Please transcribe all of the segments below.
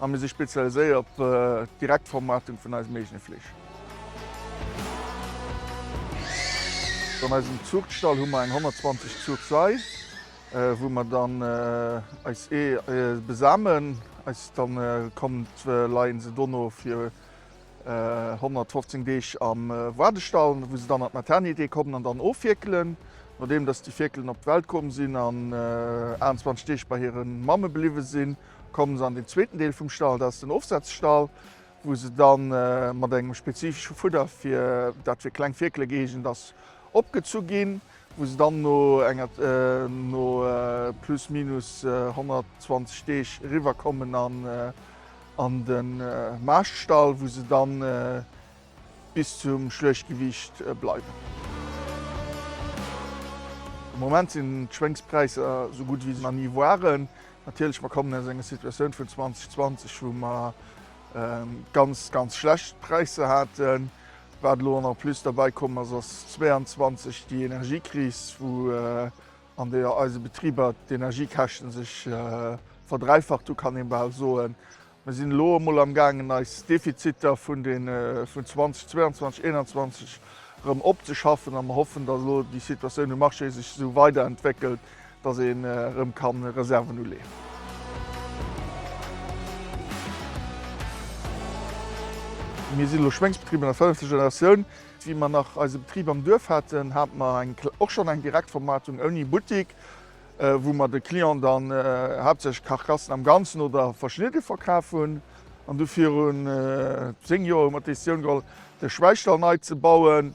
A mir si spezialiséiert op d'Direktvermaartung vun eisem eegene Fleesch. An eisem Zuuchtstall hu mer eng 120 Zuuchsai, wou mer dann eis Ee besamen. Eis dann kommt leien se dono fir 115 Deeg am Waardestall, wou se dann an d'Maternité kommen an dann ofwierkelen. Nodeem dass déi Fierkelen op d'Welt komm sinn an 28 Deeg bei hiren Mamme bliwwen sinn, Kommen se an den zweeten Deel vum Stall, dat ass den Ofsetzstall, wou se da mat engem spezifesche Fudder, dat fir kleng Fierkele gëeegent ass, opgezu ginn, wou se dann no plus minus 120 Deeg eriwwer kommen an den Maaschtstall, wou se da Bis zum Schluechtgewiicht bleiwen. Am Moment sinn d'Schwéngspräisser esou gutt wéi se nach ni waren. Natierlech, mer kommen aus enger Situatioun vun 2020, wou mer ganz, ganz schlecht Präisser haten. Wat elo en plus derbäi komm ass, ass 2022 déi Energiekris, wou an där eise Betriber d'Energiekäschten sech verdräifacht hunn, kann ee bal soen. Mir sinn elo emol am gaangen eis Defiziter vun 2022/21 erëm opzeschaffen a mer hoffen, datt elo déi Situatioun um Marché sech esou weiderentwéckelt, datt een erëm ka Reserven uleeën. Mir sinn elo Schwéngsbetrib an der fënnefter Generatioun. Wéi mer nach eise Betrib am Duerf haten, hate mer och schonn eng Direktvermaartung ouni Buttik. wou mer de Clienten dann haaptsächlech Carcassen am Ganzen oder verschnidde verkaf hunn. An du virun 10 Joer hu mer d'Decisioun geholl, de Schwäichstall nei ze bauen.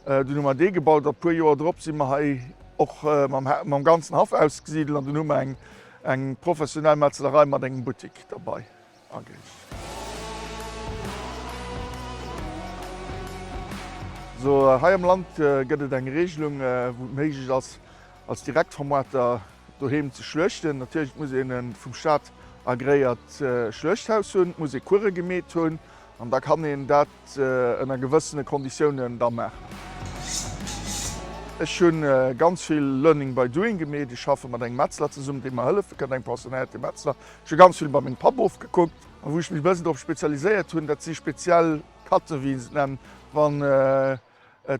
Dunn hu mer dee gebaut a puer Joer drop si mer hei och mam ganzen Haff ausgesidelt an dunn hu mer eng professionell Metzelerei mat engem Buttik derbei. ageet. Sou, hei am Land gëtt et eng Regelung, wou et méiglech ass, als Direktvermuarter doheem ze schluechten. Natierlech muss een e vum Staat agreéiert Schluechthaus hunn, et muss ee Kuere gemeet hunn An da kann een dat ënner gewëssene Konditiounen da maachen. Ech hu ganz vill Learning by doing gemeet. Ech schaffe mat engem Metzler zesummen, dee mer hëllefe kënnt, engem pensionéierte Metzler. Ech hu ganz vill bei mengem Papp ofgekuckt. A wou ech mech e bëssen drop spezialiséiert hunn, dat si speziell Katzen, wéi een se nennt, wann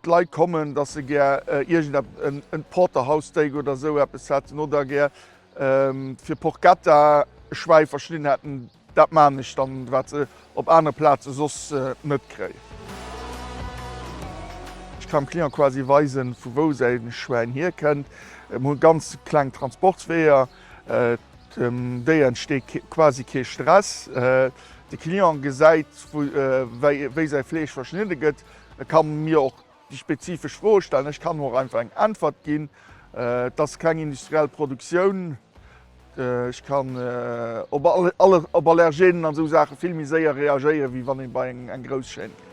d'Leit kommen, datt se gär iergendeppesen, Porterhouse-Steak oder esou eppes hätten oder gär fir Porchetta e Schwäi verschnidden hätten. Dat maan ech dann, waat se op aanere Plaatzen soss net kréien. Ech kann dem Client quasi weisen vu wou säin Schwäin hier kennt. Mir hun ganz kleng Transportsweeër, dem Déier entsteet quasi kee Stress. De Client gesäit wei säi Fleesch verschnidde gëtt, e kann mir och Déi spezifesch Froe stellen, ech kann och einfach eng Äntwert ginn, et ass keng industriell Produktioun. Ech kann op Allergenen an esou Saache vill méi séier reagéieren, wéi wann ee bei eng grouss Chaîne geet.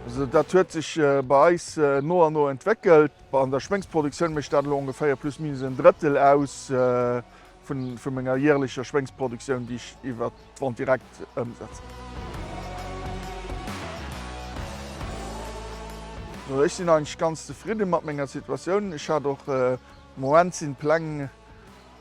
Also dat huet sech bei eis no an no entwéckelt. An der Schwéngsproduktioun mécht dat elo ongeféier plus minus en Drëttel aus. vun menger jährlecher Schwéngsproduktioun, déi ech iwwer d'Vente directe ëmsetzen. Sou, ech sinn eigentlech ganz zefridde mat menger Situatioun. Ech hat och, de Moment sinn d'Pläng,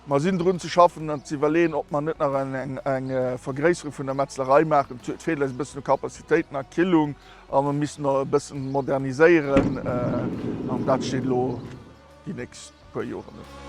mer sinn drun ze schaffen an ze iwwerleeën, ob mer net nach eng Vergréisserung vun der Metzlerei maachen. Et feelt eis e bëssen u Kapazitéiten a Killung a mer missten e bëssen moderniséieren an dat steet elo déi nächst puer Joren hunn.